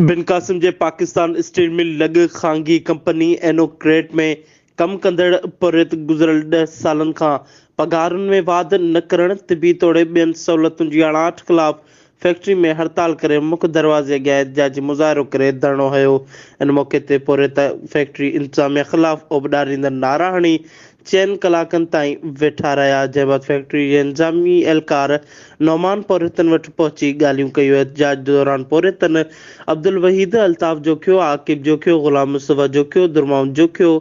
بن قاسم جي Pakistan steel mill لڳ خانگي ڪمپني اينو ڪريٽ ۾ ڪم ڪندڙ پورهيت گذريل ڏهه سالن کان پگهارن ۾ واڌ نه ڪرڻ، طبي توڙي ٻين سهولتن جي اڻاٺ خلاف فيڪٽري ۾ هڙتال ڪري مک دروازي اڳيان احتجاجي مظاهرو ڪري ڌرڻو هنيو، ان موقعي تي پورهيت فيڪٽري انتظاميا خلاف اوٻ ڏاريندڙ نعرا هڻي چئن ڪلاڪن تائين ويٺا رهيا جنهن بعد فيڪٽري جي انتظامي اهلڪار نعمان پورهيتن وٽ پهچي ڳالهيون ڪيون احتجاج دوران پورهيتن عبدالوحيد، الطاف جوکيو، عاقب جوکيو، غلام مصطفيٰ جوکيو، درماون جوکيو،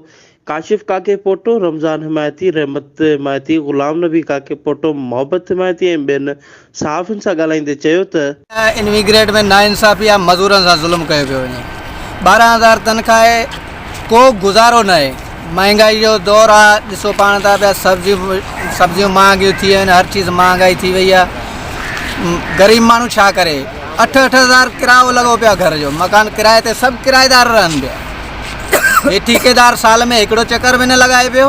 ڪاشف ڪاڪي پوٽو، رمضان حمايتي، رحمت حمايتي، غلام نبي ڪاڪي پوٽو، محبت حمايتي ۽ ٻين صحافين سان ڳالهائيندي چيو ته. انويگريٽ ۾ ناانصافي ۽ مزورن سان ظلم ڪيو پيو وڃي، ٻارهن هزار تنخواهه ڪو گذارو ناهي، مهانگائي جو دور آ، ڏسو پاڻ ٿا پيا سبزيون سبزيون مهانگيون ٿي ويون آهن، هر چيز مهانگائي ٿي وئي آ، غريب ماڻهو ڇا ڪري، اٺ اٺ هزار ڪرايو لڳو پيو آ گهر جو، مڪان ڪرائي تي سڀ ڪرائيدار رهن پيا، هي ٺيڪيدار سال ۾ هڪڙو چڪر به نه لڳائي پيو.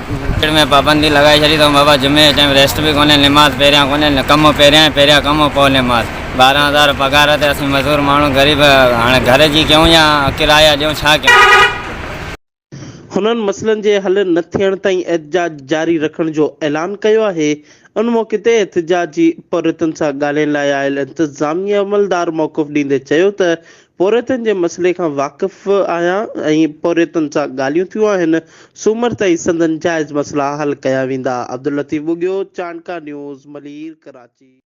ڪچڙ ۾ پابندي لڳائي ڇڏي اٿئون بابا جمعي جي ٽائيم ريسٽ به ڪونهي نماز پهريان ڪونهي ڪم پهريان ۽ پهريان ڪم پوء نماز ٻارهن هزار پگهار تي اسين مزور ماڻهو غريب هاڻي گهر جي ڪيون يا ڪرايا ڏيون ڇا ڪيون. هنن مسئلن جي حل نه ٿيڻ تائين احتجاج جاري رکڻ جو اعلان ڪيو آهي ان موقعي تي احتجاجي پورهيتن سان ڳالهين لاء آيل انتظامي عملدار موقف ڏيندي چيو ته پورهيتن جي مسئلي کان واقف آهيان ۽ پورهيتن سان ڳالهيون ٿيون آهن، سومر تائين سندن جائز مسئلا حل ڪيا ويندا. عبداللطيف ٻگهيو، چانڊڪا نيوز، ملير، ڪراچي.